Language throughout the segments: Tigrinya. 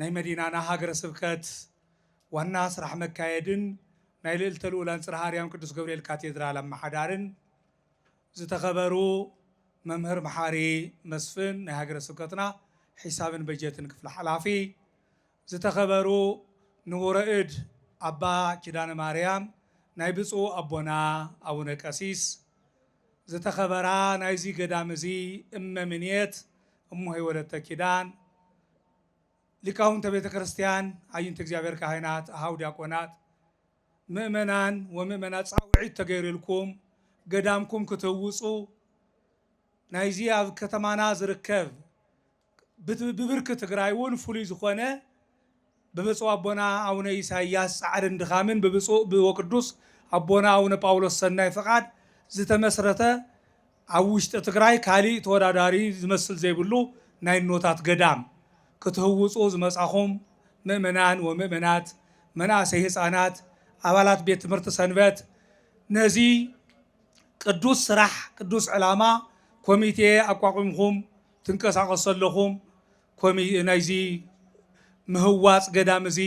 ናይ መዲናና ሃገረ ስብከት ዋና ስራሕ መካየድን ናይ ልእልተ ልኡላን ፅርሃ ኣርያም ቅዱስ ገብርኤል ካቴድራል ኣመሓዳርን ዝተኸበሩ መምህር መሓሪ መስፍን ናይ ሃገረ ስብከትና ሒሳብን በጀትን ክፍሊ ሓላፊ ዝተኸበሩ ንቡረ እድ ኣባ ኪዳነ ማርያም ናይ ብፁእ ኣቦና ኣቡነ ቀሲስ ዝተኸበራ ናይዚ ገዳም እዚ እመ ምንየት እሞሆይ ወለተ ኪዳን፣ ሊቃውንተ ቤተ ክርስቲያን፣ ኣይንት እግዚኣብሔር ካህናት፣ ኣኀው ዲያቆናት፣ ምእመናን ወምእመናት ጻውዒት ተገይርልኩም ገዳምኩም ክትህውጹ ናይዚ ኣብ ከተማና ዝርከብ ብብርኪ ትግራይ እውን ፍሉይ ዝኾነ ብብፁዕ ኣቦና ኣውነ ኢሳይያስ ጻዕርን ድኻምን ብብፁዕ ወቅዱስ ኣቦና ኣውነ ጳውሎስ ሰናይ ፍቓድ ዝተመስረተ ኣብ ውሽጢ ትግራይ ካሊእ ተወዳዳሪ ዝመስል ዘይብሉ ናይ እኖታት ገዳም ክትህውፁ ዝመጻኹም ምእመናን ወምእመናት መናእሰይ ህጻናት ኣባላት ቤት ትምህርቲ ሰንበት ነዚ ቅዱስ ስራሕ ቅዱስ ዕላማ ኮሚቴ ኣቋቁምኹም ትንቀሳቀሱ ዘለኹም ናይዚ ምህዋፅ ገዳም እዚ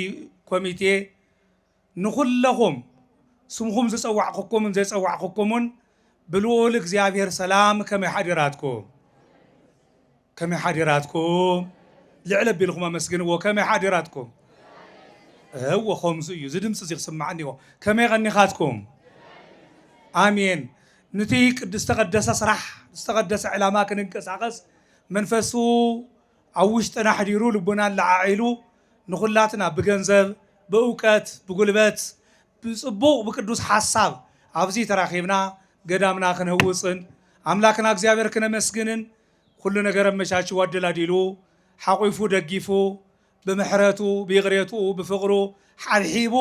ኮሚቴ ንኹለኹም ስምኹም ዝፀዋዕኹኩምን ዘይፀዋዕኹኩምን ብልኡል እግዚኣብሔር ሰላም ከመይ ሓዲራትኩም? ከመይ ሓዲራትኩም? ልዕል ኣቢልኹም ኣመስግንዎ ከመይ ሓዲራትኩም? እወ ከምዚ እዩ እዚ ድምፂ እዚ ክስማዕ እኒኦ ከመይ ቐኒኻትኩም? ኣሜን ንቲ ቅድ ዝተቐደሰ ስራሕ ዝተቐደሰ ዕላማ ክንንቀሳቐስ መንፈሱ ኣብ ውሽጥና ኣሕዲሩ ልቡና ኣለዓዒሉ ንኹላትና ብገንዘብ፣ ብእውቀት፣ ብጉልበት፣ ብፅቡቕ ብቅዱስ ሓሳብ ኣብዚ ተራኺብና ገዳምና ክንህውፅን ኣምላክና እግዚኣብሔር ክነመስግንን ኩሉ ነገር ኣመቻችዉ ኣደላዲሉ ሓቝፉ ደጊፉ ብምሕረቱ ብይቕሬትኡ ብፍቕሩ ሓብሒቡ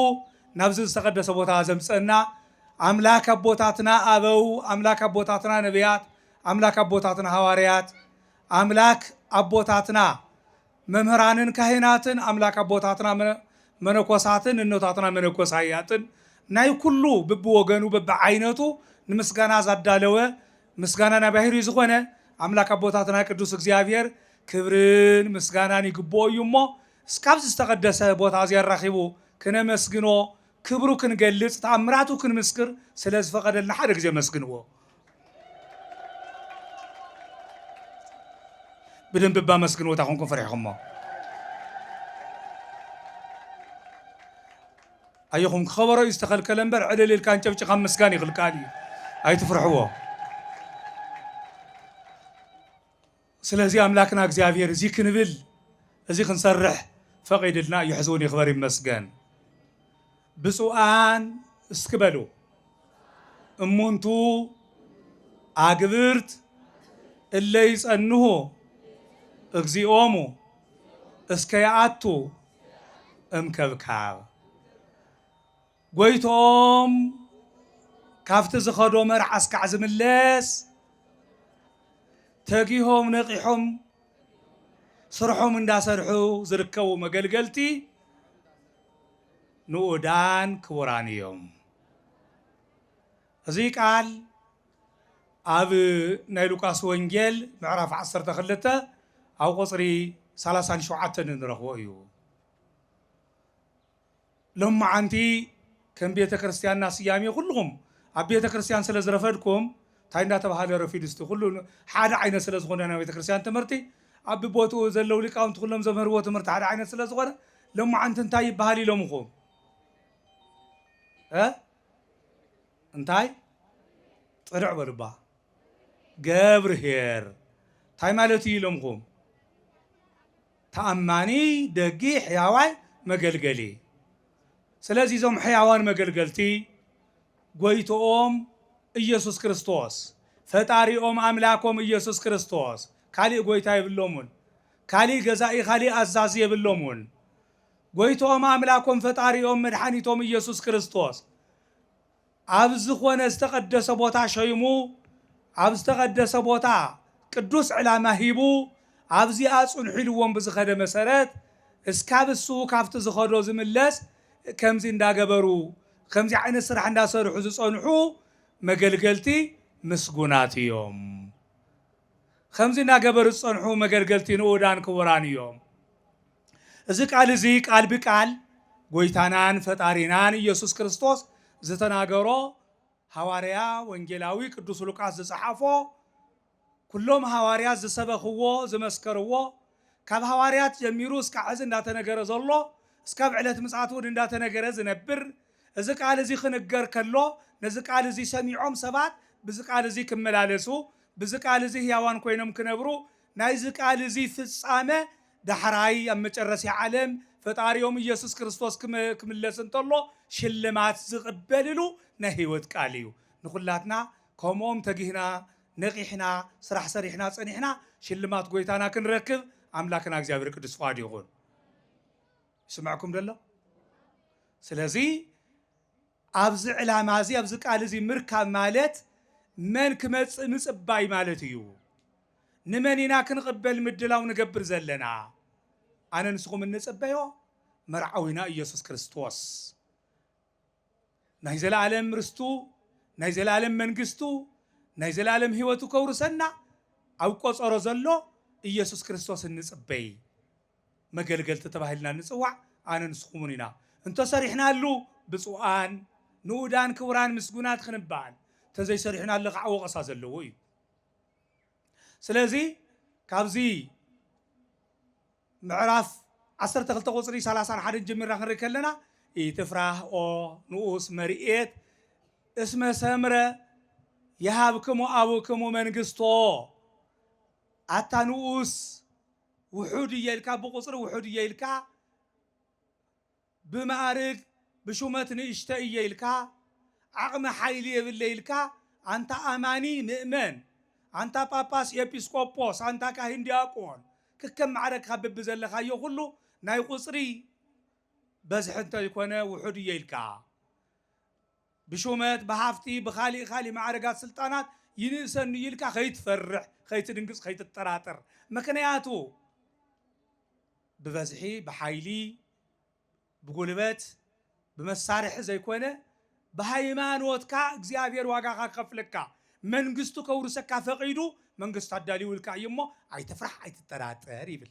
ናብዚ ዝተቐደሰ ቦታ ዘምጽእና ኣምላክ ኣቦታትና ኣበው ኣምላክ ኣቦታትና ነብያት ኣምላክ ኣቦታትና ሃዋርያት ኣምላክ ኣቦታትና መምህራንን ካህናትን ኣምላክ ኣቦታትና መነኮሳትን እኖታትና መነኮሳያትን ናይ ኩሉ ብብወገኑ በብዓይነቱ ንምስጋና ዛዳለወ ምስጋና ናይ ባህሪ ዝኾነ ኣምላክ ኣቦታትና ቅዱስ እግዚኣብሔር ክብርን ምስጋናን ይግብኦ እዩ እሞ እስካብዚ ዝተቀደሰ ቦታ እዚ ኣራኪቡ ክነመስግኖ ክብሩ ክንገልፅ ተኣምራቱ ክንምስክር ስለ ዝፈቀደልና ሓደ ግዜ ኣመስግንዎ ብደንቢ እባ ኣመስግንዎ እንታይ ኮንኩም ፈሪሕኩሞ ኣየኹም ክኸበሮ እዩ ዝተኸልከለ እምበር ዕልል ኢልካ እንጨብጭኻ ምስጋን ይኽልካል እዩ ኣይትፍርሕዎ ስለዚ ኣምላክና እግዚኣብሔር እዚ ክንብል እዚ ክንሰርሕ ፈቂድልና እዩ ሕዝውን ይክበር ይመስገን ብፁኣን እስኪ በሉ እሙንቱ ኣግብርት እለ ይጸንሁ እግዚኦሙ እስከ ይኣቱ እምከብካብ ጎይትኦም ካብቲ ዝኸዶ መርዓ እስካዕ ዝምለስ ተጊሆም ነቂሖም ስርሖም እንዳሰርሑ ዝርከቡ መገልገልቲ ንኡዳን ክቡራን እዮም። እዚ ቃል ኣብ ናይ ሉቃስ ወንጌል ምዕራፍ 12 ኣብ ቁፅሪ 37 እንረኽቦ እዩ። ሎምዓንቲ ከም ቤተ ክርስትያንና ስያሜ ኩሉኹም ኣብ ቤተ ክርስትያን ስለ ዝረፈድኩም ታይ እንዳተባሃለ ረፊዱ እስቲ ኩሉ ሓደ ዓይነት ስለ ዝኾነ ናይ ቤተ ክርስትያን ትምህርቲ ኣብ ብቦትኡ ዘለው ሊቃውንቲ ኩሎም ዘምህርዎ ትምህርቲ ሓደ ዓይነት ስለ ዝኾነ ሎምዓንቲ እንታይ ይባሃል ኢሎምኹም እ እንታይ ጥርዕ በሉባ ገብርሄር ታይ ማለት እዩ ኢሎምኹም ተኣማኒ፣ ደጊ፣ ሕያዋይ መገልገሊ። ስለዚ እዞም ሕያዋን መገልገልቲ ጎይትኦም ኢየሱስ ክርስቶስ፣ ፈጣሪኦም ኣምላኮም ኢየሱስ ክርስቶስ ካሊእ ጎይታ የብሎሙን፣ ካሊእ ገዛኢ ካሊእ ኣዛዚ የብሎሙን። ጎይትኦም ኣምላኮም ፈጣሪኦም መድሓኒቶም ኢየሱስ ክርስቶስ። ኣብ ዝኾነ ዝተቐደሰ ቦታ ሸይሙ፣ ኣብ ዝተቐደሰ ቦታ ቅዱስ ዕላማ ሂቡ፣ ኣብዚኣ ጽንሑ ኢልዎም ብዝኸደ መሰረት፣ እስካብ እሱ ካብቲ ዝኸዶ ዝምለስ ከምዚ እንዳገበሩ፣ ከምዚ ዓይነት ስራሕ እንዳሰርሑ ዝጸንሑ መገልገልቲ ምስጉናት እዮም። ከምዚ እንዳገበሩ ዝጸንሑ መገልገልቲ ንኡዳን ክቡራን እዮም። እዚ ቃል እዚ ቃል ብቃል ጎይታናን ፈጣሪናን ኢየሱስ ክርስቶስ ዝተናገሮ ሃዋርያ ወንጌላዊ ቅዱስ ሉቃስ ዝጸሓፎ ኩሎም ሃዋርያት ዝሰበኽዎ ዝመስከርዎ ካብ ሃዋርያት ጀሚሩ እስካዕ ሕዚ እንዳተነገረ ዘሎ እስካብ ዕለት ምጽኣት እውን እንዳተነገረ ዝነብር እዚ ቃል እዚ ክንገር ከሎ ነዚ ቃል እዚ ሰሚዖም ሰባት ብዚ ቃል እዚ ክመላለሱ ብዚ ቃል እዚ ህያዋን ኮይኖም ክነብሩ ናይዚ ቃል እዚ ፍጻመ ዳሕራይ ኣብ መጨረሲያ ዓለም ፈጣሪኦም ኢየሱስ ክርስቶስ ክምለስ እንተሎ ሽልማት ዝቅበልሉ ናይ ሕይወት ቃል እዩ። ንኩላትና ከምኦም ተጊህና ነቂሕና ስራሕ ሰሪሕና ጸኒሕና ሽልማት ጎይታና ክንረክብ ኣምላክና እግዚኣብሔር ቅዱስ ፍቃዱ ይኩን። ይስመዕኩም ዶ ኣሎ? ስለዚ ኣብዚ ዕላማዚ ኣብዚ ቃልዚ ምርካብ ማለት መን ክመጽእ ምጽባይ ማለት እዩ። ንመን ኢና ክንቕበል ምድላው ንገብር ዘለና? ኣነ ንስኹም እንጽበዮ መርዓዊና ኢየሱስ ክርስቶስ ናይ ዘለኣለም ርስቱ ናይ ዘለኣለም መንግስቱ ናይ ዘለኣለም ሕይወቱ ከውርሰና ኣብ ቆጸሮ ዘሎ ኢየሱስ ክርስቶስ እንጽበይ መገልገልቲ ተባሂልና ንጽዋዕ ኣነ ንስኹምን ኢና እንተሰሪሕናሉ ብጹኣን ንኡዳን ክቡራን ምስጉናት ክንባል ተዘይሰሪሕናሉ ካዓ ወቐሳ ዘለዎ እዩ ስለዚ ካብዚ ምዕራፍ ዓሰርተ ክልተ ቁጽሪ ሰላሳን ሓደን ጀሚርና ክንርኢ ከለና ኢትፍራህ ኦ ንኡስ መርኤት እስመ ሰምረ የሃብክሙ ኣቡክሙ መንግስቶ ኣታ ንኡስ ውሑድ እየ ኢልካ ብቁፅሪ ውሑድ እየ ኢልካ ብማእርግ ብሹመት ንእሽተይ እየ ኢልካ ዓቅሚ ሓይሊ የብለይ ኢልካ ኣንታ ኣማኒ ምእመን ኣንታ ጳጳስ ኤጲስቆጶስ ኣንታ ካህን ዲያቆን ክከም ማዕረግካ በቢዘለካዮ ኩሉ ናይ ቁፅሪ በዝሒ እንተይኮነ ውሑድ እየ ኢልካ ብሹመት፣ ብሃፍቲ፣ ብኻሊእ ኻሊእ ማዕርጋት ስልጣናት ይንእሰኒ እዩ ኢልካ ከይትፈርሕ፣ ከይትድንግፅ፣ ከይትጠራጠር። ምኽንያቱ ብበዝሒ፣ ብሓይሊ፣ ብጉልበት፣ ብመሳርሒ ዘይኮነ ብሃይማኖትካ እግዚኣብሔር ዋጋኻ ክኸፍለካ፣ መንግስቱ ከውርሰካ ፈቒዱ መንግስቱ ኣዳሊዉልካ እዩ እሞ ኣይትፍራሕ፣ ኣይትጠራጠር ይብል።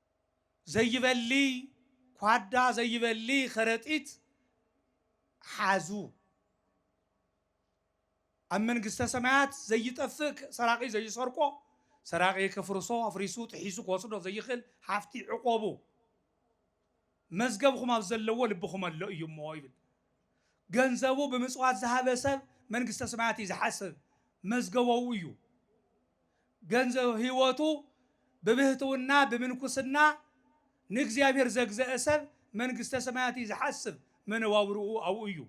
ዘይበሊ ኳዳ ዘይበሊ ከረጢት ሓዙ ኣብ መንግስተ ሰማያት ዘይጠፍእ ሰራቂ ዘይሰርቆ ሰራቂ ከፍርሶ ኣፍሪሱ ጥሒሱ ክወስዶ ዘይኽእል ሃፍቲ ዕቆቡ መዝገብኹም ኣብ ዘለዎ ልብኹም ኣሎ እዩ እሞ ይብል። ገንዘቡ ብምጽዋት ዝሃበ ሰብ መንግስተ ሰማያት እዩ ዝሓስብ፣ መዝገቦኡ እዩ። ገንዘብ ህይወቱ ብብህትውና ብምንኩስና ንእግዚኣብሔር ዘግዘአ ሰብ መንግስተ ሰማያት እዩ ዝሓስብ፣ መነባብርኡ ኣብኡ እዩ።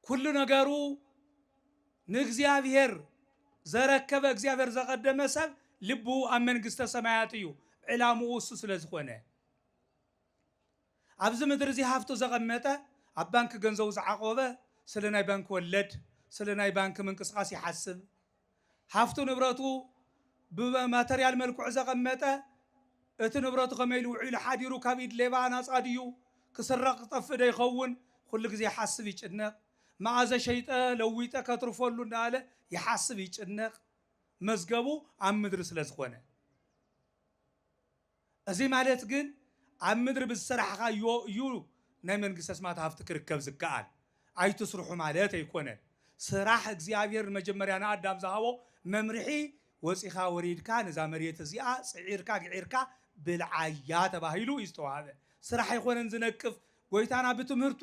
ኩሉ ነገሩ ንእግዚኣብሔር ዘረከበ እግዚኣብሔር ዘቀደመ ሰብ ልቡ ኣብ መንግስተ ሰማያት እዩ ዕላምኡ እሱ ስለ ዝኾነ ኣብዚ ምድሪ እዚ ሃፍቱ ዘቐመጠ ኣብ ባንኪ ገንዘቡ ዝዓቆበ ስለ ናይ ባንኪ ወለድ ስለ ናይ ባንኪ ምንቅስቃስ ይሓስብ ሃፍቱ ንብረቱ ብማተርያል መልክዑ ዘቐመጠ፣ እቲ ንብረቱ ከመይ ኢሉ ውዒሉ ሓዲሩ፣ ካብ ኢድ ሌባ ናጻ ድዩ፣ ክስረቕ ክጠፍእ ዶ ይኸውን፣ ኹሉ ግዜ ይሓስብ ይጭነቕ። መኣዘ ሸይጠ ለዊጠ ከትርፈሉ እንዳበለ ይሓስብ ይጭነቕ። መዝገቡ ኣብ ምድሪ ስለ ዝኾነ። እዚ ማለት ግን ኣብ ምድሪ ብዝሰራሕኻዮ እዩ ናይ መንግስተ ሰማያት ሃፍቲ ክርከብ ዝከኣል። ኣይትስርሑ ማለት ኣይኮነን። ስራሕ እግዚኣብሄር ንመጀመርያ ንኣዳም ዝሃቦ መምርሒ ወጺኻ ወሪድካ ነዛ መሬት እዚኣ ጽዒርካ ግዒርካ ብልዓያ ተባሂሉ እዩ ዝተዋህበ። ስራሕ ኣይኮነን ዝነቅፍ። ጎይታና ብትምህርቱ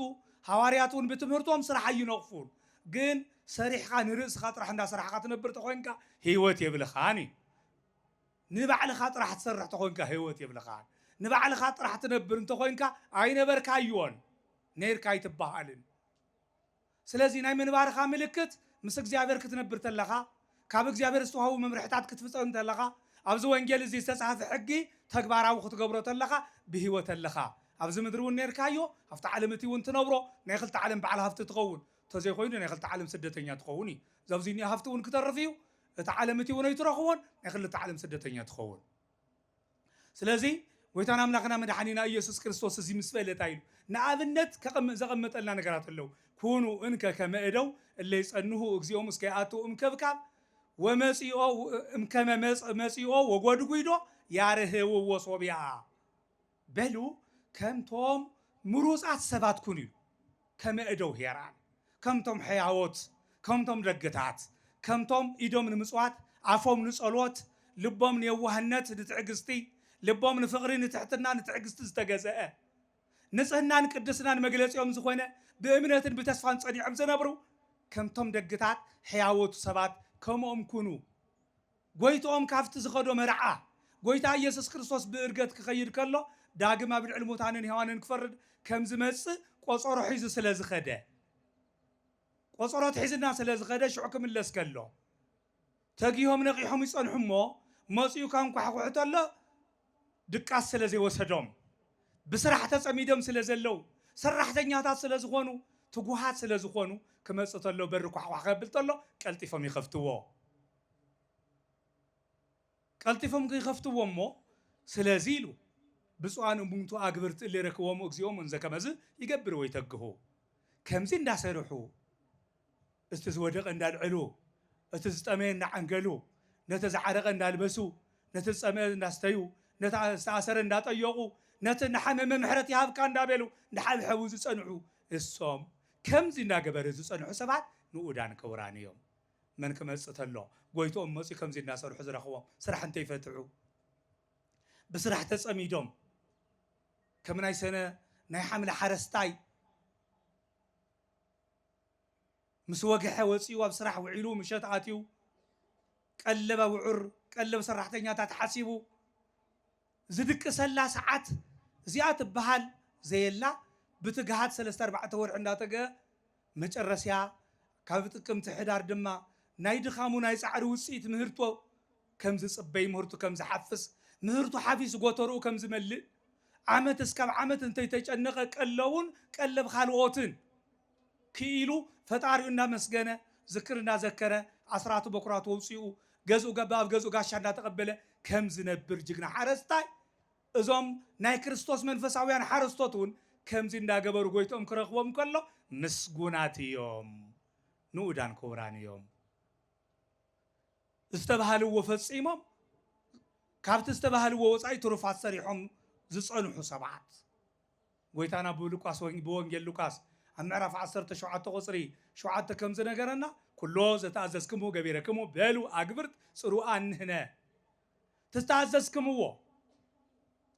ሃዋርያት እውን ብትምህርቶም ስራሕ ኣይነቕፉን። ግን ሰሪሕኻ ንርእስኻ ጥራሕ እንዳሰራሕኻ ትነብር ተኾይንካ ህይወት የብልኻን እዩ። ንባዕልኻ ጥራሕ ትሰርሕ ተኾንካ ህይወት የብልኻን ንባዕልኻ ጥራሕ ትነብር እንተኾይንካ ኣይነበርካዮን ነይርካ ኣይትበሃልን ስለዚ ናይ ምንባርኻ ምልክት ምስ እግዚኣብሔር ክትነብር ተለኻ ካብ እግዚኣብሔር ዝተዋህቡ መምርሕታት ክትፍጸም ተለኻ ኣብዚ ወንጌል እዚ ዝተጻህፈ ሕጊ ተግባራዊ ክትገብሮ ተለኻ ብህይወት ኣለኻ ኣብዚ ምድሪ እውን ነይርካዮ ኣብቲ ዓለም እቲ እውን ትነብሮ ናይ ክልተ ዓለም በዓል ሃፍቲ ትኸውን ተዘይኮይኑ ናይ ክልተ ዓለም ስደተኛ ትኸውን እዩ ዘብዙይ ኒኦ ሃፍቲ እውን ክተርፍ እዩ እታ ዓለም እቲውን ኣይትረኽቦን ናይ ክልተ ዓለም ስደተኛ ትኸውን ስለዚ ጎይታን ኣምላኽና መድሓኒና ኢየሱስ ክርስቶስ እዚ ምስ በለ እንታይ ኢሉ ንኣብነት ዘቐመጠልና ነገራት ኣለዉ ኩኑ እንከ ከመ እደው እለ ይጸንሁ እግዚኦም እስከ ይኣትው እምክብካብ ወመጺኦ እምከመ መጽ- መጺኦ ወጎድጒዶ ያርህውዎ ሶብያ በሉ ከምቶም ምሩጻት ሰባት ኩኑ፣ ከመ እደው ሄራን፣ ከምቶም ሕያዎት፣ ከምቶም ደግታት፣ ከምቶም ኢዶም ንምጽዋት፣ ኣፎም ንጸሎት፣ ልቦም ንየዋህነት፣ ንትዕግስቲ፣ ልቦም ንፍቕሪ፣ ንትሕትና፣ ንትዕግስቲ ዝተገዘአ፣ ንጽህናን ቅድስናን መግለጺኦም ዝኾነ፣ ብእምነትን ብተስፋን ጸኒዖም ዝነብሩ፣ ከምቶም ደግታት፣ ሕያዎት፣ ሰባት ከምኦም ኩኑ። ጐይትኦም ካብቲ ዝኸዶ መርዓ ጐይታ ኢየሱስ ክርስቶስ ብእርገት ክኸይድ ከሎ ዳግም ኣብ ልዕሊ ሙታንን ሕያዋንን ክፈርድ ከም ዝመጽእ ቆጸሮ ሒዙ ስለ ዝኸደ ቆጸሮ ኣትሒዝልና ስለ ዝኸደ ሽዑ ክምለስ ከሎ ተጊሆም ነቒሖም ይጸንሑ እሞ መጺኡ ከንኳሕኩሑ ተሎ ድቃስ ስለ ዘይወሰዶም ብስራሕ ተጸሚዶም ስለ ዘለው ሰራሕተኛታት ስለ ዝኾኑ ትጉሃት ስለ ዝኾኑ ክመጽእ ተሎ በሪ ኳሕኳሕ ከብል ተሎ ቀልጢፎም ይኸፍትዎ። ቀልጢፎም ኪኸፍትዎ እሞ ስለዚ ኢሉ ብፁዓን እሙንቱ ኣግብርት እለ ይረክቦሙ እግዚኦሙ እንዘ ከመዝ ይገብር ወይተግሁ ከምዚ እንዳሰርሑ እቲ ዝወደቐ እንዳልዐሉ እቲ ዝጠመየ እንዳዓንገሉ ነቲ ዝዓረቐ እንዳልበሱ ነቲ ዝጸምአ እንዳስተዩ ነቲ ዝተኣሰረ እንዳጠየቑ ነቲ እናሓመመ ምሕረት ይሃብካ እንዳበሉ እንዳሓብሐቡ ዝጸንሑ እሶም ከምዚ እንዳገበሩ ዝጸንሑ ሰባት ንኡዳን ክቡራን እዮም። መን ክመጽእ ተሎ ጎይትኦም መጽዩ ከምዚ እናሰርሑ ዝረኽቦም ስራሕ እንተይፈትሑ ብስራሕ ተጸሚዶም ከም ናይ ሰነ ናይ ሓምለ ሓረስታይ ምስ ወግሐ ወጺኡ ኣብ ስራሕ ውዒሉ ምሸት ኣትዩ ቀለብ ኣውዑር ቀለብ ሰራሕተኛታት ሓሲቡ ዝድቅሰላ ሰዓት እዚኣ ትበሃል ዘየላ ብትግሃት ሰለስተ ኣርባዕተ ወርሒ እንዳተገ መጨረስያ ካብ ጥቅምቲ ሕዳር ድማ ናይ ድኻሙ ናይ ጻዕሩ ውጽኢት ምህርቶ ከም ዝጽበይ ምህርቱ ከም ዝሓፍስ ምህርቱ ሓፊሱ ጎተርኡ ከም ዝመልእ ዓመት እስካብ ዓመት እንተይተጨነቀ ቀለቡን ቀለብ ኻልኦትን ክኢሉ ፈጣሪኡ እናመስገነ ዝክር እናዘከረ ኣስራቱ በኩራቱ ኣውፂኡ ገዝኡ ገባ ኣብ ገዝኡ ጋሻ እናተቀበለ ከም ዝነብር ጅግና ሓረስታይ እዞም ናይ ክርስቶስ መንፈሳውያን ሓረስቶት እውን ከምዚ እንዳገበሩ ጎይትኦም ክረክቦም ከሎ ምስጉናት እዮም ንኡዳን ክቡራን እዮም ዝተባሃልዎ ፈፂሞም ካብቲ ዝተባሃልዎ ወፃኢ ትሩፋት ሰሪሖም ዝፀንሑ ሰባት ጐይታና ብሉቃስ ብወንጌል ሉቃስ ኣብ ምዕራፍ ዓሰርተ ሸውዓተ ቁጽሪ ሸውዓተ ከም ዝነገረና ኩሎ ዘተኣዘዝክምዎ ገቢረክሙ በሉ ኣግብርት ጽሩኣን ንሕነ ተተኣዘዝክምዎ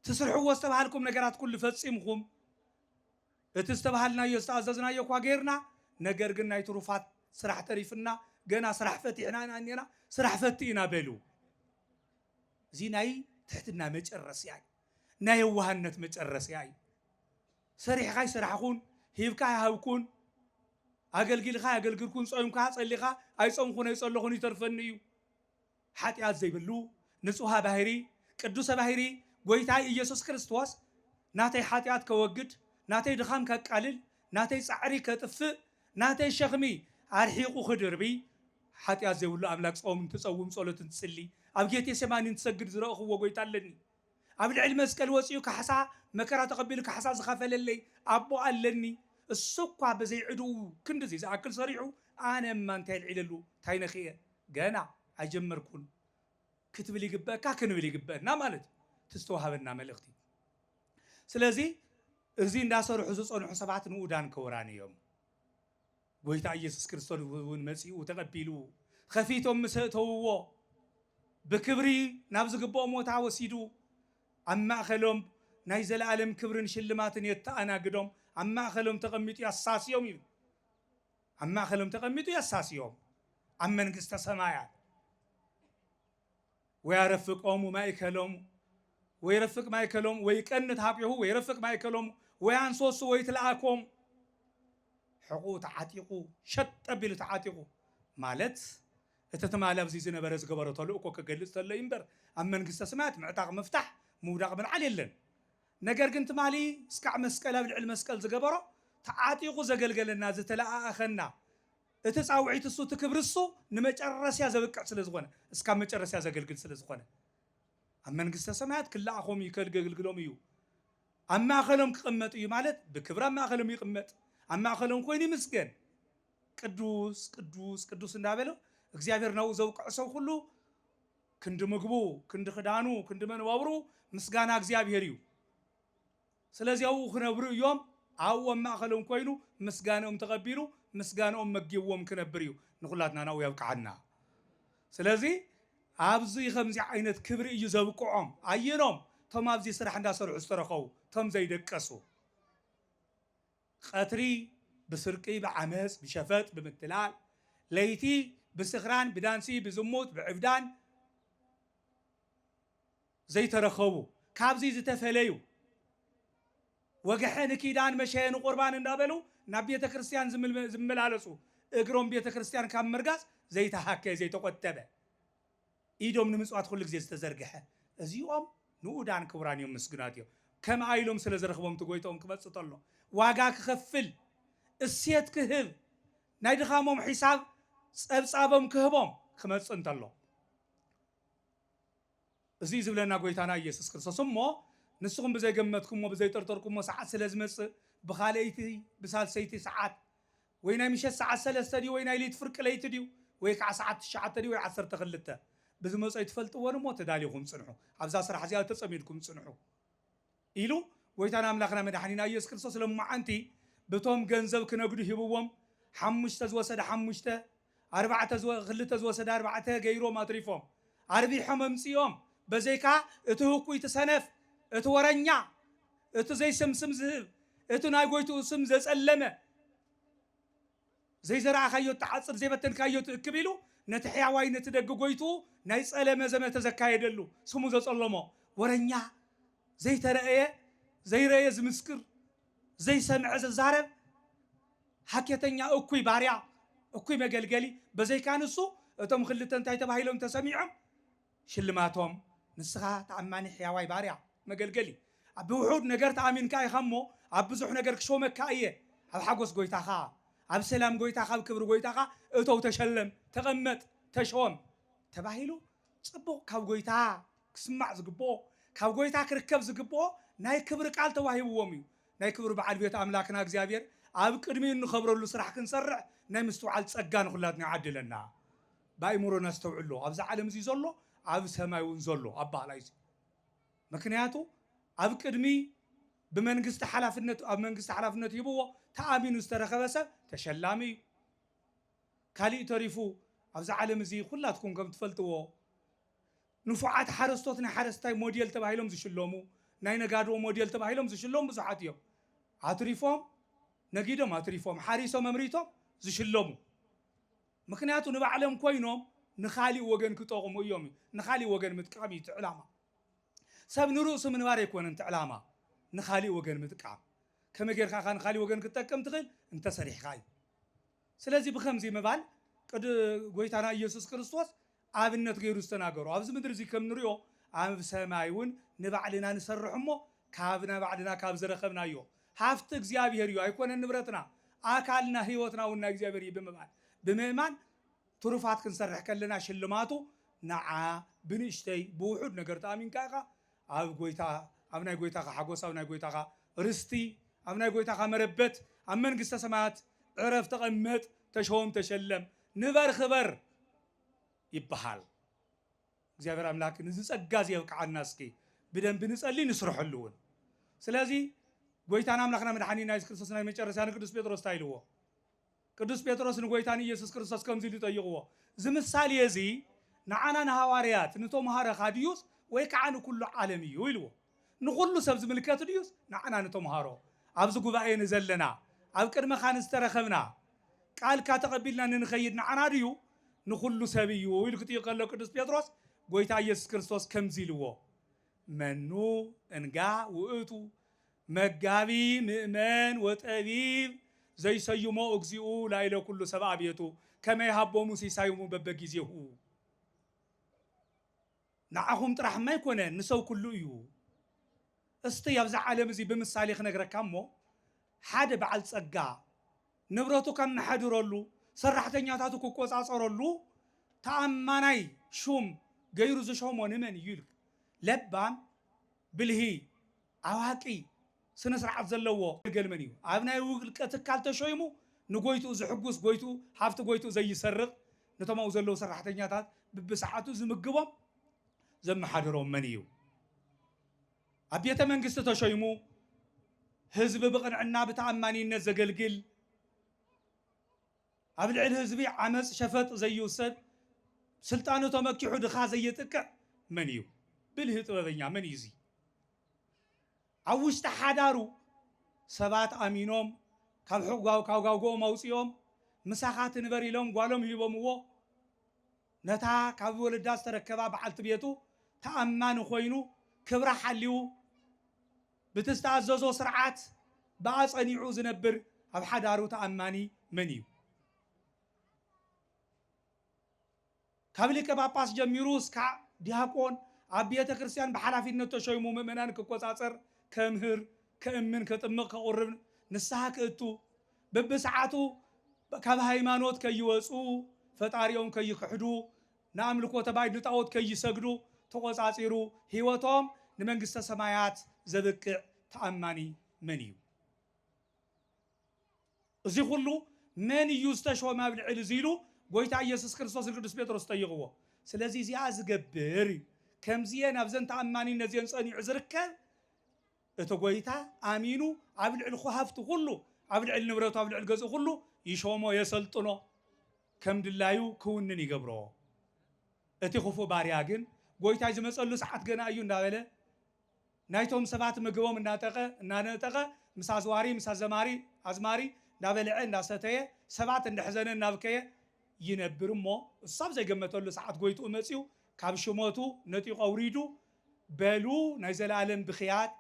ትስርሕዎ ዝተባሃልኩም ነገራት ኩሉ ፈጺምኩም እቲ ዝተባሃልናዮ ዝተኣዘዝናዮ እኳ ጌርና ነገር ግን ናይ ትሩፋት ስራሕ ተሪፍና ገና ስራሕ ፈቲሕና ኢና እኔና ስራሕ ፈቲ ኢና በሉ እዚ ናይ ትሕትና መጨረስያ እዩ ናይ የዋህነት መጨረስያ እዩ። ሰሪሕኻ ኣይሰራሕኹን፣ ሂብካ ኣይሃብኩን፣ ኣገልጊልኻ ኣየገልግልኩን፣ ጾይምካ ጸሊኻ ኣይጾምኹን ኣይጸለኹን ይተርፈኒ እዩ። ሓጢኣት ዘይብሉ ንጹሃ ባህሪ ቅዱሰ ባህሪ ጐይታይ ኢየሱስ ክርስቶስ ናተይ ሓጢኣት ከወግድ፣ ናተይ ድኻም ከቃልል፣ ናተይ ጻዕሪ ከጥፍእ፣ ናተይ ሸኽሚ ኣርሒቑ ክድርቢ ሓጢኣት ዘይብሉ ኣምላክ ጾም እንትጸውም ጸሎት እንትጽሊ ኣብ ጌቴሴማኒ እንትሰግድ ዝረእኽዎ ጐይታ ኣለኒ። ኣብ ልዕሊ መስቀል ወጺኡ ካሕሳ መከራ ተቐቢሉ ካሕሳ ዝኸፈለለይ ኣቦ ኣለኒ እሱ እኳ ብዘይ ዕድኡ ክንድዚ ዝኣክል ሰሪሑ ኣነ እማ እንታይ ኣልዒለሉ እንታይ ነኺኤ ገና ኣይጀመርኩን ክትብል ይግበእካ ክንብል ይግበእና ማለት እዩ እቲ ዝተዋሃበና መልእኽቲ ስለዚ እዚ እንዳሰርሑ ዝጸንሑ ሰባት ንኡዳን ክቡራን እዮም። ጎይታ እየሱስ ክርስቶስ እውን መጺኡ ተቐቢሉ ኸፊቶም ምስ ኣእተውዎ ብክብሪ ናብ ዝግብኦ ሞታ ወሲዱ ኣብ ማእኸሎም ናይ ዘለኣለም ክብርን ሽልማትን የተኣናግዶም ኣብ ማእኸሎም ተቐሚጡ ያሳስዮም ይብል ኣብ ማእኸሎም ተቐሚጡ ያሳስዮም ኣብ መንግስተ ሰማያት ወያረፍቆሙ ማእከሎሙ ወይረፍቅ ማእከሎሙ ወይቀንት ሀቤሁ ወይረፍቅ ማእከሎሙ ወያንሶሱ ወይትለኣኮሙ ሕቑኡ ተዓጢቑ ሸጥ ኣቢሉ ተዓጢቑ ማለት እቲ ትማሊ ኣብዚ ዝነበረ ዝገበሮ ተልእኮ ክገልፅ ተሎ እዩ እምበር ኣብ መንግስተ ሰማያት ምዕጣቕ ምፍታሕ ምውዳቕ ምልዓል የለን። ነገር ግን ትማሊ እስካዕ መስቀል ኣብ ልዕሊ መስቀል ዝገበሮ ተዓጢቑ ዘገልገለና ዝተለኣኣኸና እቲ ጻውዒት እሱ እቲ ክብሪ እሱ ንመጨረስያ ዘብቅዕ ስለ ዝኾነ እስካብ መጨረስያ ዘገልግል ስለ ዝኾነ ኣብ መንግስተ ሰማያት ክለኣኾም እዩ ከልገልግሎም እዩ ኣብ ማእኸሎም ክቕመጥ እዩ ማለት ብክብሪ ኣብ ማእኸሎም ይቕመጥ ኣብ ማእኸሎም ኮይኑ ይምስገን ቅዱስ ቅዱስ ቅዱስ እንዳበለ እግዚኣብሔር ናብኡ ዘውቅዕ ሰብ ኩሉ ክንዲ ምግቡ ክንዲ ክዳኑ ክንዲ መነባብሩ ምስጋና እግዚኣብሔር እዩ ስለዚ ኣብኡ ክነብሩ እዮም፣ ኣብኡ ኣብ ማእከሎም ኮይኑ ምስጋንኦም ተቐቢሉ ምስጋንኦም መጊብዎም ክነብር እዩ፣ ንኹላትና ናብኡ የብቅዓና። ስለዚ ኣብዚ ከምዚ ዓይነት ክብሪ እዩ ዘብቅዖም፣ ኣየኖም እቶም ኣብዚ ስራሕ እንዳሰርሑ ዝተረኸቡ እቶም ዘይደቀሱ ቐትሪ ብስርቂ ብዓመጽ ብሸፈጥ ብምትላል ለይቲ ብስኽራን ብዳንሲ ብዝሙት ብዕብዳን ዘይተረኸቡ ካብዙይ ዝተፈለዩ ወግሐ ንኪዳን መሸ ንቁርባን እንዳበሉ ናብ ቤተ ክርስቲያን ዝመላለሱ እግሮም ቤተ ክርስቲያን ካብ ምርጋፅ ዘይተሃከ ዘይተቆጠበ ኢዶም ንምፅዋት ኩሉ ግዜ ዝተዘርግሐ እዚኦም ንኡዳን ክቡራን እዮም ምስጉናት እዮም ከምኣ ኢሎም ስለ ዝረኽቦም እቲ ጎይትኦም ክመፅእ ተሎ ዋጋ ክኸፍል እሴት ክህብ ናይ ድኻሞም ሒሳብ ፀብፃቦም ክህቦም ክመፅእ እንተሎ እዙይ ዝብለና ጐይታና ኢየሱስ ክርስቶስ እሞ ንስኹም ብዘይገመትኩሞ ብዘይጠርጠርኩሞ ሰዓት ስለ ዝመጽእ ብኻልኣይቲ ብሳልሰይቲ ሰዓት ወይ ናይ ምሸት ሰዓት ሰለስተ ድዩ ወይ ናይ ለይቲ ፍርቂ ለይቲ ድዩ ወይ ከዓ ሰዓት ትሽዓተ ድዩ ወይ ዓሰርተ ክልተ ብዝመጾ ኣይትፈልጥዎን እሞ ተዳሊኹም ጽንሑ ኣብዛ ስራሕ እዚኣ ተጸሚድኩም ጽንሑ ኢሉ ጎይታና ኣምላኽና መድሓኒና ኢየሱስ ክርስቶስ ሎማዓንቲ ብቶም ገንዘብ ክነግዱ ሂብዎም ሓሙሽተ ዝወሰደ ሓሙሽተ ኣርባዕተ ክልተ ዝወሰደ ኣርባዕተ ገይሮም ኣትሪፎም ኣርቢሖም ኣምጺኦም በዘይካ እቲ ህኩይ እቲ ሰነፍ እቲ ወረኛ እቲ ዘይስም ስም ዝህብ እቲ ናይ ጎይትኡ ስም ዘጸለመ ዘይዘራእካዮ እትዓጽድ ዘይበተንካዮ ትእክብ ኢሉ ነቲ ሕያዋይ ነቲ ደግ ጎይትኡ ናይ ጸለመ ዘመተ ዘካየደሉ ስሙ ዘጸለሞ ወረኛ ዘይተረእየ ዘይረእየ ዝምስክር ዘይሰምዐ ዘዛረብ ሃኬተኛ እኩይ ባርያ እኩይ መገልገሊ በዘይካ ንሱ እቶም ክልተ እንታይ ተባሂሎም ተሰሚዖም ሽልማቶም፣ ንስኻ ተኣማኒ ሕያዋይ ባርያ፣ መገልገሊ፣ ኣብ ብውሑድ ነገር ተኣሚንካ ኢኻ እሞ፣ ኣብ ብዙሕ ነገር ክሾመካ እየ፣ ኣብ ሓጐስ ጐይታኻ፣ ኣብ ሰላም ጐይታኻ፣ ኣብ ክብሪ ጐይታኻ እቶው፣ ተሸለም፣ ተቐመጥ፣ ተሾም፣ ተባሂሉ ጽቡቕ ካብ ጐይታ ክስማዕ ዝግብኦ፣ ካብ ጐይታ ክርከብ ዝግብኦ ናይ ክብሪ ቃል ተዋሂብዎም እዩ። ናይ ክብሪ በዓል ቤት ኣምላክና እግዚኣብሔር ኣብ ቅድሚኡ እንኸብረሉ ስራሕ ክንሰርሕ ናይ ምስትውዓል ጸጋ ንኹላትና ይዓድለና። ብኣእምሮ ነስተውዕሎ ኣብዚ ዓለም እዚ ዘሎ ኣብ ሰማይ እውን ዘሎ ኣባሃላይ እዚ ምክንያቱ ኣብ ቅድሚ ብመንግስቲ ሓላፍነት ኣብ መንግስቲ ሓላፍነት ሂብዎ ተኣሚኑ ዝተረከበ ሰብ ተሸላሚ እዩ ካሊእ ተሪፉ ኣብዚ ዓለም እዚ ኩላትኩም ከም ትፈልጥዎ ንፉዓት ሓረስቶት ናይ ሓረስታይ ሞዴል ተባሂሎም ዝሽለሙ ናይ ነጋዶ ሞዴል ተባሂሎም ዝሽለሙ ብዙሓት እዮም ኣትሪፎም ነጊዶም ኣትሪፎም ሓሪሶም ኣምሪቶም ዝሽለሙ ምኽንያቱ ንባዕሎም ኮይኖም ንኻሊእ ወገን ክጠቕሙ እዮም እዩ። ንኻሊእ ወገን ምጥቃም እዩ እቲ ዕላማ። ሰብ ንርእሱ ምንባር ኣይኮነን እቲ ዕላማ ንኻሊእ ወገን ምጥቃም። ከመይ ጌርካ ኢኻ ንኻሊእ ወገን ክትጠቅም ትኽእል? እንተ ሰሪሕኻ እዩ። ስለዚ ብኸምዚ ምባል ቅዱ ጎይታና ኢየሱስ ክርስቶስ ኣብነት ገይሩ ዝተናገሮ። ኣብዚ ምድሪ እዚ ከም ንሪኦ ኣብ ሰማይ እውን ንባዕልና ንሰርሕ እሞ ካብ ናይ ባዕልና ካብ ዝረኸብናዮ ሃፍቲ እግዚኣብሔር እዩ ኣይኮነን ንብረትና ኣካልና ሕይወትና እውን ናይ እግዚኣብሔር እዩ ብምባል ብምእማን ትሩፋት ክንሰርሕ ከለና ሽልማቱ ንዓ ብንእሽተይ ብውሑድ ነገር ተኣሚንካ ኢኻ ኣብ ጎይታ ኣብ ናይ ጎይታኻ ሓጎስ ኣብ ናይ ጎይታኻ ርስቲ ኣብ ናይ ጎይታኻ መረበት ኣብ መንግስተ ሰማያት ዕረፍ ተቐመጥ ተሾም ተሸለም ንበር ክበር ይበሃል። እግዚኣብሔር ኣምላክ ንዚ ጸጋ እዚ የብቅዓና እስኪ ብደንቢ ንጸሊ ንስርሐሉ እውን ስለዚ ጎይታና ኣምላክና መድሓኒና የሱስ ክርስቶስ ናይ መጨረሻ ንቅዱስ ጴጥሮስ እንታይ ኢልዎ ቅዱስ ጴጥሮስ ንጐይታ ንኢየሱስ ክርስቶስ ከምዚ ኢሉ ጠይቕዎ፣ እዚ ምሳሌ እዚ ንዓና ንሃዋርያት፣ ንተምሃሮኻ ድዩስ ወይ ከዓ ንኩሉ ዓለም እዩ? ኢልዎ። ንኹሉ ሰብ ዝምልከት ድዩስ ንዓና ንተምሃሮ፣ ኣብዚ ጉባኤ ንዘለና፣ ኣብ ቅድመኻ ንዝተረኸብና፣ ቃልካ ተቐቢልና ንንኸይድ ንዓና ድዩ? ንኹሉ ሰብ እዩ ኢሉ ክጥይቕ ከሎ ቅዱስ ጴጥሮስ ጐይታ ኢየሱስ ክርስቶስ ከምዚ ኢልዎ፣ መኑ እንጋ ውእቱ መጋቢ ምእመን ወጠቢብ ዘይሰዩሞ እግዚኡ ላይለ ኩሉ ሰብኣ ቤቱ ከመ ይሃቦሙ ሲሳዩሙ በበጊዜሁ ንዓኹም ጥራሕማ ኣይኮነን ንሰብ ኩሉ እዩ። እስቲ ኣብዚ ዓለም እዚ ብምሳሌ ክነግረካ እሞ ሓደ በዓል ጸጋ ንብረቱ ከመሓድረሉ ሰራሕተኛታቱ ክቆጻጸረሉ ተኣማናይ ሹም ገይሩ ዝሾሞ ንመን እዩ ኢልካ ለባም ብልሂ ኣዋቂ፣ ስነስርዓት ዘለዎ ኣገልገሊ መን እዩ? ኣብ ናይ ውልቀ ትካል ተሾይሙ ንጎይትኡ ዝሕጉስ፣ ጎይትኡ ሃፍቲ ጎይትኡ ዘይሰርቕ፣ ነቶም ኣብኡ ዘለዉ ሰራሕተኛታት ብብሰዓቱ ዝምግቦም ዘመሓድሮም መን እዩ? ኣብ ቤተ መንግስቲ ተሾይሙ ህዝቢ ብቕንዕና ብተኣማኒነት ዘገልግል፣ ኣብ ልዕሊ ህዝቢ ዓመጽ ሸፈጥ ዘይውሰድ ስልጣኑ ተመኪሑ ድኻ ዘየጥቅዕ መን እዩ ብልሂ ጥበበኛ መን እዩ እዚ ኣብ ውሽጢ ሓዳሩ ሰባት ኣሚኖም ካብ ሕጓው ካብ ጋውጎኦም ኣውጺኦም ምሳኻ ትንበር ኢሎም ጓሎም ሂቦምዎ ነታ ካብ ወለዳ ዝተረከባ በዓልቲ ቤቱ ተኣማኒ ኮይኑ ክብራ ሓልዩ ብቲ ዝተኣዘዞ ስርዓት ብኣ ጸኒዑ ዝነብር ኣብ ሓዳሩ ተኣማኒ መን እዩ? ካብ ሊቀ ጳጳስ ጀሚሩ እስካዕ ዲያቆን፣ ኣብ ቤተ ክርስቲያን ብሓላፊነት ተሾይሙ ምእመናን ክቆጻጸር፣ ከምህር፣ ከእምን፣ ከጥምቕ፣ ከቑርብ፣ ንስሓ ክእቱ፣ በብሰዓቱ ካብ ሃይማኖት ከይወጽኡ፣ ፈጣሪኦም ከይኽሕዱ፣ ንኣምልኮተ ባይድ ንጣኦት ከይሰግዱ ተቖጻጺሩ ሕይወቶም ንመንግሥተ ሰማያት ዘብቅዕ ተኣማኒ መን እዩ? እዚ ኹሉ መን እዩ ዝተሾመ ኣብ ልዕሊ እዚ ኢሉ ጎይታ ኢየሱስ ክርስቶስ ንቅዱስ ጴጥሮስ ጠይቕዎ። ስለዚ እዚኣ ዝገብር እዩ ከምዚኤን ኣብዘን ተኣማኒነት እዚኤን ጸኒዑ ዝርከብ እቲ ጎይታ ኣሚኑ ኣብ ልዕሊ ኹሃፍቱ ኹሉ ኣብ ልዕሊ ንብረቱ ኣብ ልዕሊ ገዝኡ ኹሉ ይሾሞ የሰልጥኖ። ከም ድላዩ ክውንን ይገብሮ። እቲ ክፉእ ባርያ ግን ጎይታይ ዝመጸሉ ሰዓት ገና እዩ እንዳበለ ናይቶም ሰባት ምግቦም እናጠቀ እናነጠቀ ምስ ኣዝዋሪ ምስ ኣዘማሪ ኣዝማሪ እንዳበልዐ እንዳሰተየ ሰባት እንደሕዘነ እናብከየ ይነብር እሞ እሱ ኣብ ዘይገመተሉ ሰዓት ጎይትኡ መጺኡ ካብ ሽመቱ ነጢቁ ኣውሪዱ በሉ ናይ ዘላለም ብክያት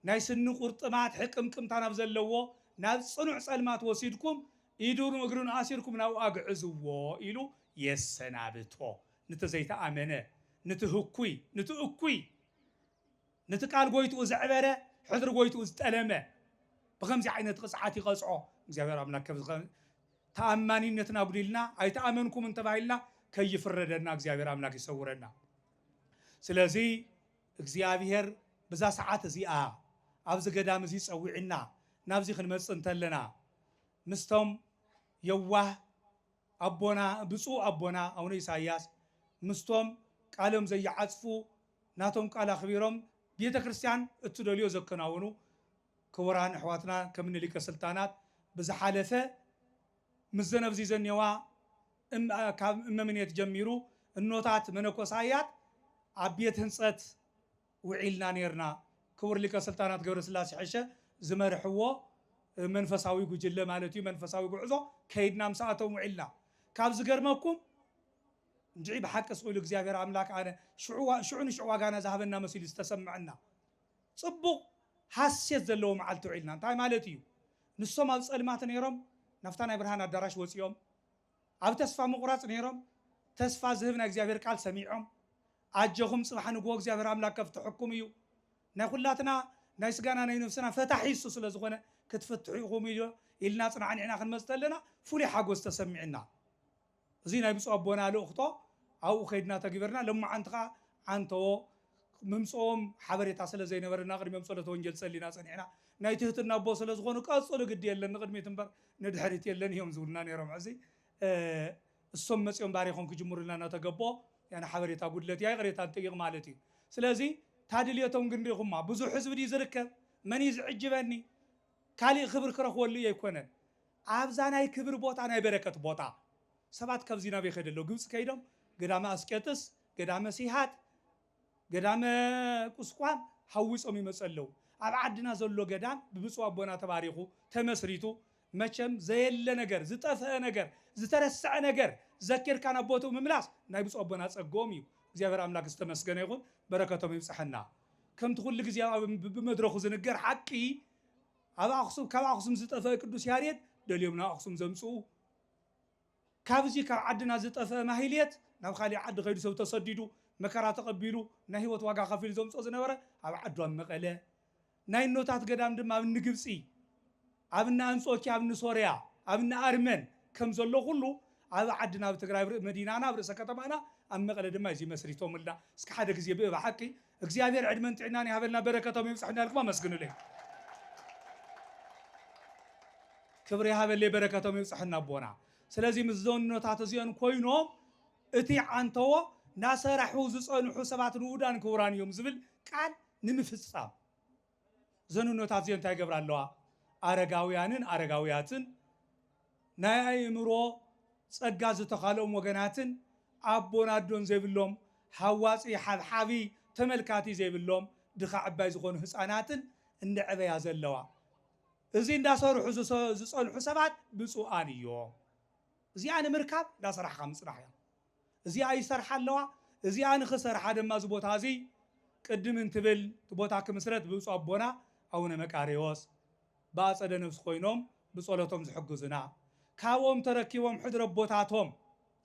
ናይ ስኒ ቁርጥማት ሕቅምቅምታ ናብ ዘለዎ ናብ ጽኑዕ ጸልማት ወሲድኩም ኢዱን እግሩን ኣሲርኩም ናብኡ ኣግዕዝዎ ኢሉ የሰናብቶ ንቲ ዘይተኣመነ ንቲ ህኩይ ንቲ እኩይ ንቲ ቃል ጎይትኡ ዘዕበረ ሕድሪ ጎይትኡ ዝጠለመ ብከምዚ ዓይነት ቕጽዓት ይቐጽዖ እግዚኣብሔር ኣምላክ ከብዚ ተኣማኒነትና ኣጉዲልና ኣይተኣመንኩምን ተባሂልና ከይፍረደና እግዚኣብሔር ኣምላክ ይሰውረና ስለዚ እግዚኣብሄር ብዛ ሰዓት እዚኣ ኣብዚ ገዳም እዚ ጸዊዑና ናብዚ ክንመጽእ እንተለና ምስቶም የዋህ ኣቦና ብጹእ ኣቦና ኣውነ ኢሳያስ ምስቶም ቃሎም ዘይዓጽፉ ናቶም ቃል ኣኽቢሮም ቤተክርስትያን እትደልዮ ዘከናውኑ ክቡራን ኣሕዋትና ከምኒ ሊቀ ስልጣናት ብዝሓለፈ ምስዘን ኣብዚ ዘኔዋ ካብ እመምኔት ጀሚሩ እኖታት መነኮሳያት ኣብ ቤት ህንፀት ውዒልና ነይርና። ክቡር ሊቀ ስልጣናት ገብረስላሴ ሕሸ ዝመርሕዎ መንፈሳዊ ጉጅለ ማለት እዩ መንፈሳዊ ጉዕዞ ከይድና ምሳኣቶም ውዒልና ካብ ዝገርመኩም እንድዒ ብሓቂ ስእሉ እግዚኣብሔር ኣምላክ ኣነ ሽዑ ንሽዑ ዋጋና ዝሃበና መሲሉ ዝተሰምዐና ፅቡቅ ሃሴት ዘለዎ መዓልቲ ውዒልና እንታይ ማለት እዩ ንሶም ኣብ ፀልማት ነይሮም ናብታ ናይ ብርሃን ኣዳራሽ ወፂኦም ኣብ ተስፋ ምቑራጽ ኔሮም ተስፋ ዝህብ ናይ እግዚኣብሄር ቃል ሰሚዖም ኣጀኹም ጽባሕ ንግሆ እግዚኣብሄር ኣምላክ ከፍትሐኩም እዩ ናይ ኹላትና ናይ ስጋና ናይ ነፍስና ፈታሒ እሱ ስለ ዝኾነ ክትፍትሑ ኢኹም ኢልና ኣጽናዕኒዕና ክንመጽ ተለና ፍሉይ ሓጎስ ተሰሚዕና እዚ ናይ ብጹእ ኣቦና ልእኽቶ ኣብኡ ከይድና ተግቢርና ለሞዓንቲ ከኣ ዓንተዎ ምምጽኦም ሓበሬታ ስለ ዘይነበረና ቅድሚኦም ጸሎተ ወንጌል ጸሊና ጸኒሕና። ናይ ትህትና ኣቦ ስለ ዝኾኑ ቀጽሉ ግዲ የለን ንቅድሚት እምበር ንድሕሪት የለን እዮም ዝብሉና ነይሮም። ሕዚ እሶም መጺኦም ባሪኾም ክጅምሩልና እናተገበኦ ያነ ሓበሬታ ጉድለት እያ ይቅሬታ ንጥይቅ ማለት እዩ። ስለዚ እታ ድልየቶም ግን ሪኢኹማ ብዙሕ ህዝቢ ድዩ ዝርከብ? መን እዩ ዝዕጅበኒ? ካሊእ ክብሪ ክረኽበሉ እየ ኣይኮነን። ኣብዛ ናይ ክብሪ ቦታ ናይ በረከት ቦታ ሰባት ካብዚ ናበይ ከይዲ ኣለው ግብጺ ከይዶም ገዳመ ኣስቄጥስ ገዳመ ሲሃት ገዳመ ቁስቋም ሃዊጾም ይመጹ ኣለዉ ኣብ ዓድና ዘሎ ገዳም ብብጹእ ኣቦና ተባሪኹ ተመስሪቱ መቸም ዘየለ ነገር ዝጠፍአ ነገር ዝተረስዐ ነገር ዘኪርካ ናብ ቦትኡ ምምላስ ናይ ብጹእ ኣቦና ጸግኦም እዩ እግዚኣብሔር ኣምላክ ዝተመስገነ ይኹን በረከቶም ይብጽሐና ከምቲ ኩሉ ግዜ ኣብ ብመድረኹ ዝንገር ሓቂ ኣብ ኣክሱም ካብ ኣክሱም ዝጠፍአ ቅዱስ ያሬድ ደልዮም ናብ ኣክሱም ዘምጽኡ ካብዚ ካብ ዓድና ዝጠፈእ ማህሌት ናብ ካሊእ ዓዲ ከይዱ ሰብ ተሰዲዱ መከራ ተቀቢሉ ናይ ሂወት ዋጋ ከፊሉ ዘምጾ ዝነበረ ኣብ ዓዱ ኣብ መቀለ ናይ እኖታት ገዳም ድማ ኣብ እኒ ግብጺ ኣብ እኒ ኣንጾኪያ ኣብ እኒ ሶርያ ኣብ እኒ ኣርመን ከም ዘሎ ኩሉ ኣብ ዓድና ኣብ ትግራይ ኣብ መዲናና ኣብ ርእሰ ከተማና ኣብ መቀለ ድማ እዚ መስሪቶምልና እስኪ ሓደ ግዜ ብእብ ሓቂ እግዚኣብሔር ዕድመን ጥዕናን ይሃበልና በረከቶም ይብፀሐና ኢልኩም ኣመስግኑለይ ክብሪ ይሃበለይ በረከቶም ይብፀሐና ኣቦና ስለዚ ምስ ዘኖታት እዚኦን ኮይኖም እቲ ዓንተዎ ናሰራሑ ዝፀንሑ ሰባት ንኡዳን ክቡራን እዮም ዝብል ቃል ንምፍፃም እዘን እኖታት እዚኤን እንታይ ይገብራ ኣለዋ? ኣረጋውያንን ኣረጋውያትን፣ ናይ ኣእምሮ ጸጋ ዝተዃልኦም ወገናትን፣ ኣቦን ኣዶን ዘይብሎም፣ ሃዋጺ፣ ሓብሓቢ፣ ተመልካቲ ዘይብሎም፣ ድኻ ዕባይ ዝኾኑ ህጻናትን እንደዕበያ ዘለዋ። እዚ እንዳሰርሑ ዝጸንሑ ሰባት ብጹኣን እዮም። እዚኣ ንምርካብ እንዳሰራሕኻ ምጽናሕ እያ። እዚኣ ይሰርሓ ኣለዋ። እዚኣ ንኽሰርሓ ድማ እዚ ቦታ እዚ ቅድም እንትብል እቲ ቦታ ክምስረት ብብፁዕ ኣቦና ኣቡነ መቃርዮስ ብኣፀደ ነፍስ ኮይኖም ብፀሎቶም ዝሕግዙና ካብኦም ተረኪቦም ሕድሪ ኣቦታቶም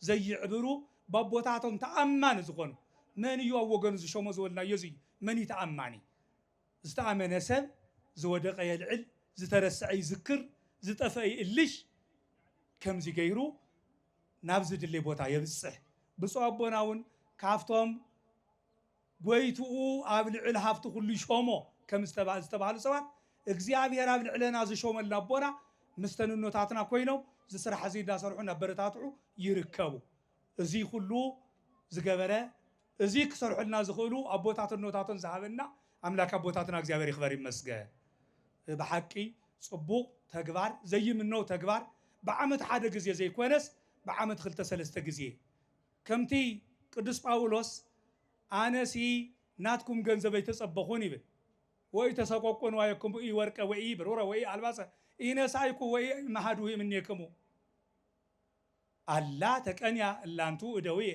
ዘይዕብሩ በቦታቶም ተኣማኒ ዝኾኑ መን እዩ ኣብ ወገኑ ዝሾሞ ዝበልናዮ እዚ እዩ መን እዩ ተኣማኒ ዝተኣመነ ሰብ ዝወደቐ የልዕል፣ ዝተረስዐ ይዝክር፣ ዝጠፍአ ይእልሽ፣ ከምዚ ገይሩ ናብ ዝድለ ቦታ የብጽሕ። ብፁዕ ኣቦና እውን ካብቶም ጐይትኡ ኣብ ልዕል ሃብቲ ኵሉ ሾሞ ከም ዝተባህሉ ሰባት እግዚኣብሔር ኣብ ልዕለና ዝሾመልና ኣቦና ምስ ተንኖታትና ኮይኖም እዚ ስራሕ እዚ እንዳሰርሑ እናበረታትዑ ይርከቡ። እዙይ ኵሉ ዝገበረ እዚ ክሰርሑልና ዝኽእሉ ኣቦታትን ኖታትን ዝሃበና ኣምላክ ኣቦታትና እግዚኣብሔር ይክበር ይመስገን ብሓቂ ፅቡቅ ተግባር ዘይምነው ተግባር ብዓመት ሓደ ግዜ ዘይኮነስ ብዓመት ክልተ ሰለስተ ግዜ ከምቲ ቅዱስ ጳውሎስ ኣነሲ ናትኩም ገንዘብ ኣይተፀበኹን ይብል ወኢተሰቆቁ ንዋየኩም ኢወርቀ ወኢብሩረ ወኢኣልባሰ ኢነሳእኩ ወኢእምሃድሁ እምኔክሙ ኣላ ተቀንያ እላንቱ እደውየ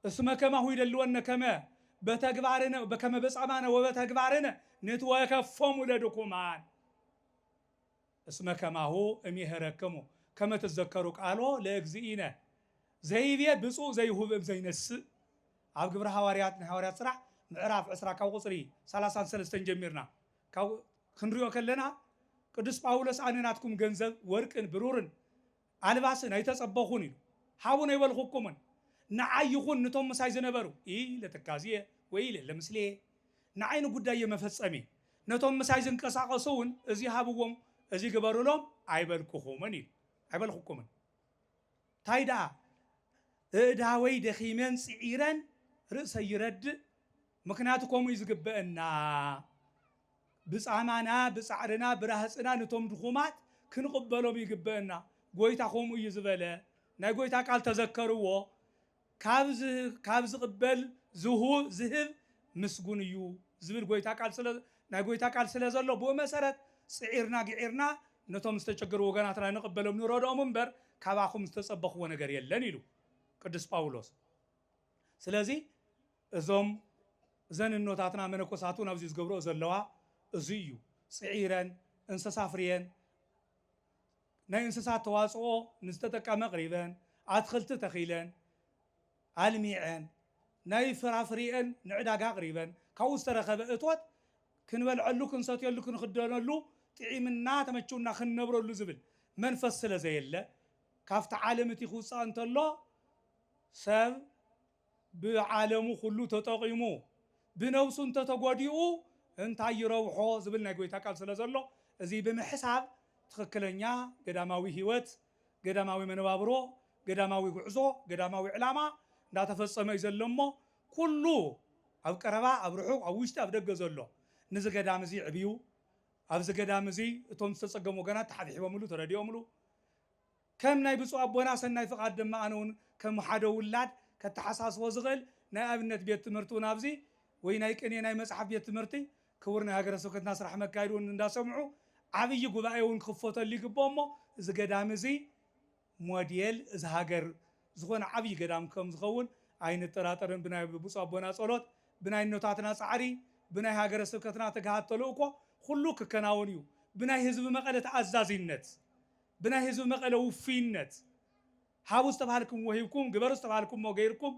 እስመ ከማሁ ይደልወነ ከመ በተግባርነ ከመ በጻማነ ወበተግባርነ ንትወከፎሙ ለድኩማን እስመ ከማሁ እሜህረክሙ ከመ ትዘከሩ ቃሎ ለእግዚእነ ዘይቤ ብፁዕ ዘይሁብ እም ዘይነስእ ኣብ ግብረ ሃዋርያት ናይ ሃዋርያት ስራሕ ምዕራፍ ዕስራ ካብ ቁጽሪ ሰላሳን ሰለስተን ጀሚርና ካብ ክንሪኦ ከለና ቅዱስ ጳውሎስ ኣነ ናትኩም ገንዘብ ወርቅን ብሩርን ኣልባስን ኣይተጸበኹን ኢሉ ሃቡን ኣይበልኹኩምን ንዓይ ይኹን ንቶም ምሳይ ዝነበሩ ኢይ ለትካዝየ ወኢይ ለምስሌየ ንዓይ ንጉዳየ መፈጸሚ ነቶም ምሳይ ዝንቀሳቐሱ እውን እዚ ሃብዎም እዚ ግበሩሎም ኣይበልኩኹምን ኢሉ ኣይበልኹኩምን ታይ ደኣ እእዳወይ ደኺመን ጽዒረን ርእሰይ ይረድእ ምኽንያቱ ከምኡ እዩ ዝግበእና ብጻማና ብጻዕርና ብራህጽና ንቶም ድኹማት ክንቕበሎም ይግበእና ጎይታ ከምኡ እዩ ዝበለ ናይ ጎይታ ቃል ተዘከርዎ ካብ ካብ ዝቕበል ዝሁ ዝህብ ምስጉን እዩ ዝብል ጎይታ ቃል ስለ ናይ ጎይታ ቃል ስለ ዘሎ ብኡ መሰረት ጽዒርና ግዒርና ነቶም ዝተቸገሩ ወገናትና ንቕበሎም ንረድኦም እምበር ካባኹም ዝተጸበኽዎ ነገር የለን ኢሉ ቅዱስ ጳውሎስ ስለዚ እዞም እዘን እኖታትና መነኮሳት ውን ኣብዚ ዝገብርኦ ዘለዋ እዙይ እዩ ፅዒረን እንሰሳ ኣፍርየን ናይ እንስሳት ተዋፅኦ ንዝተጠቀመ ኣቅሪበን ኣትክልቲ ተኺለን ኣልሚዐን ናይ ፍራፍሪኤን ንዕዳጋ ኣቅሪበን ካብኡ ዝተረኸበ እቶት ክንበልዐሉ ክንሰትየሉ ክንኽደነሉ ጢዒምና ተመችውና ክንነብረሉ ዝብል መንፈስ ስለዘየለ ካፍቲ ዓለም እቲ ክውፃእ እንተሎ ሰብ ብዓለሙ ኩሉ ተጠቒሙ ብነብሱ እንተተጎዲኡ እንታይ ይረብሖ ዝብል ናይ ጎይታ ቃል ስለ ዘሎ እዚ ብምሕሳብ ትኽክለኛ ገዳማዊ ሕይወት፣ ገዳማዊ መነባብሮ፣ ገዳማዊ ጉዕዞ፣ ገዳማዊ ዕላማ እንዳተፈጸመ እዩ ዘሎ እሞ ኩሉ ኣብ ቀረባ ኣብ ርሑቕ ኣብ ውሽጢ ኣብ ደገ ዘሎ ንዚ ገዳም እዚ ዕብዩ ኣብዚ ገዳም እዚ እቶም ዝተጸገሙ ወገናት ተሓብሒቦምሉ ተረዲኦምሉ ከም ናይ ብፁዕ ኣቦና ሰናይ ፍቃድ ድማ ኣነ ውን ከም ሓደ ውላድ ከተሓሳስቦ ዝኽእል ናይ ኣብነት ቤት ትምህርቲ ውን ኣብዚ ወይ ናይ ቅኔ ናይ መጽሓፍ ቤት ትምህርቲ ክቡር ናይ ሃገረ ስብከትና ስራሕ መካየዲ ውን እንዳሰምዑ ዓብይ ጉባኤ ውን ክኽፈተሉ ይግብኦ እሞ እዚ ገዳም እዚ ሞዴል እዚ ሃገር ዝኾነ ዓብይ ገዳም ከም ዝኸውን ኣይንጠራጠርን ብናይ ብፁዕ ኣቦና ጸሎት ብናይ እኖታትና ጻዕሪ ብናይ ሃገረ ስብከትና ትግሃት ተልእኮ ኹሉ ክከናወን እዩ ብናይ ህዝቢ መቐለ ተኣዛዚነት ብናይ ህዝቢ መቐለ ውፉይነት፣ ሃቡ ዝተብሃልክምዎ ሂብኩም፣ ግበሩ ዝተብሃልክምዎ ገይርኩም፣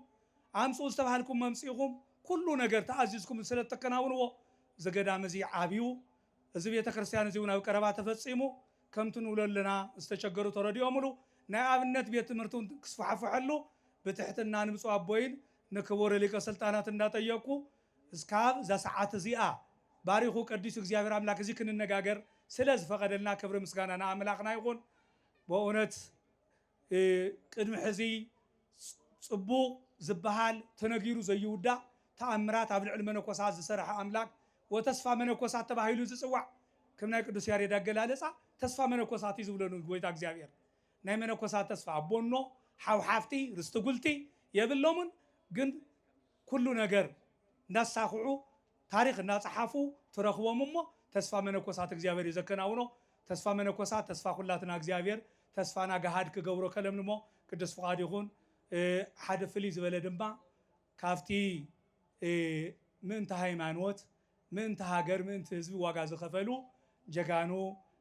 ኣምፅኡ ዝተብሃልክምዎ ኣምፂእኹም፣ ኩሉ ነገር ተኣዚዝኩም ስለእተከናውንዎ እዚ ገዳም እዚ ዓብዩ፣ እዚ ቤተ ክርስቲያን እዚውን ኣብ ቀረባ ተፈፂሙ፣ ከምቲ ንብሎ ኣለና ዝተቸገሩ ተረዲኦምሉ፣ ናይ ኣብነት ቤት ትምህርቲ እውን ክስፋሕፈሐሉ ብትሕትና ንብፁዕ ኣቦይን ንክቡር ሊቀ ስልጣናት እንዳጠየቅኩ፣ እስካብ እዛ ሰዓት እዚኣ ባሪኩ ቀዲሱ እግዚኣብሔር ኣምላክ እዚ ክንነጋገር ስለ ዝፈቀደልና ክብሪ ምስጋና ንኣምላክና ይኩን በእውነት ቅድሚ ሕዚ ፅቡቅ ዝባሃል ተነጊሩ ዘይውዳእ ተኣምራት ኣብ ልዕሊ መነኮሳት ዝሰረሐ ኣምላክ ወተስፋ መነኮሳት ተባሂሉ ዝፅዋዕ ከም ናይ ቅዱስ ያሬድ ኣገላለፃ ተስፋ መነኮሳት እዩ ዝብሎ ንጎይታ እግዚኣብሔር ናይ መነኮሳት ተስፋ ኣቦኖ ሓው ሓፍቲ ርስቲ ጉልቲ የብሎሙን ግን ኩሉ ነገር እንዳሳኽዑ ታሪኽ እንዳጸሓፉ ትረኽቦም እሞ ተስፋ መነኮሳት እግዚኣብሔር እዩ ዘከናውኖ ተስፋ መነኮሳት ተስፋ ኩላትና እግዚኣብሔር ተስፋና ገሃድ ክገብሮ ከለምልሞ ቅዱስ ፍቃዱ ይኹን ሓደ ፍልይ ዝበለ ድማ ካብቲ ምእንቲ ሃይማኖት ምእንቲ ሃገር ምእንቲ ህዝቢ ዋጋ ዝኸፈሉ ጀጋኑ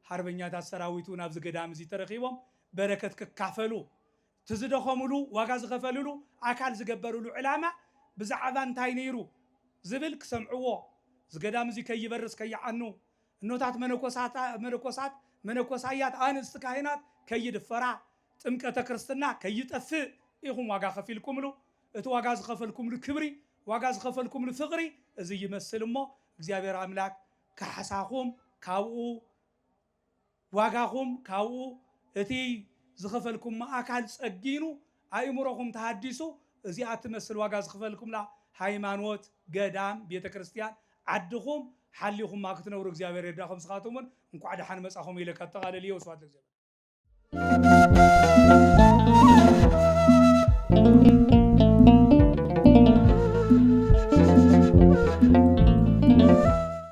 ሓርበኛታት ሰራዊት እውን ኣብዚ ገዳም እዚ ተረኺቦም በረከት ክካፈሉ እቲ ዝደኸምሉ፣ ዋጋ ዝኸፈልሉ፣ ኣካል ዝገበርሉ ዕላማ ብዛዕባ እንታይ ነይሩ ዝብል ክሰምዕዎ፣ እዚ ገዳም እዚ ከይበርስ ከይዓኑ፣ እኖታት መነኮሳት መነኮሳያት ኣንስቲ ካህናት ከይድፈራ፣ ጥምቀተ ክርስትና ከይጠፍእ ኢኹም ዋጋ ከፊልኩምሉ። እቲ ዋጋ ዝኸፈልኩምሉ ክብሪ፣ ዋጋ ዝኸፈልኩምሉ ፍቕሪ እዚ ይመስል እሞ እግዚኣብሔር ኣምላክ ካሕሳኹም ካብኡ ዋጋኹም ካብኡ እቲ ዝኸፈልኩሞ ኣካል ጸጊኑ ኣእምሮኹም ተሃዲሱ እዚኣ እትመስል ዋጋ ዝኽፈልኩምላ ሃይማኖት፣ ገዳም፣ ቤተ ክርስትያን፣ ዓድኹም ሓሊኹማ ክትነብሩ እግዚኣብሔር ይርዳኹም ንስኻትኩም እውን እንኳዕ ደሓን መጻኹም ኢለ ከጠቓልል እየ ወስብሃት ለእግዚኣብሔር።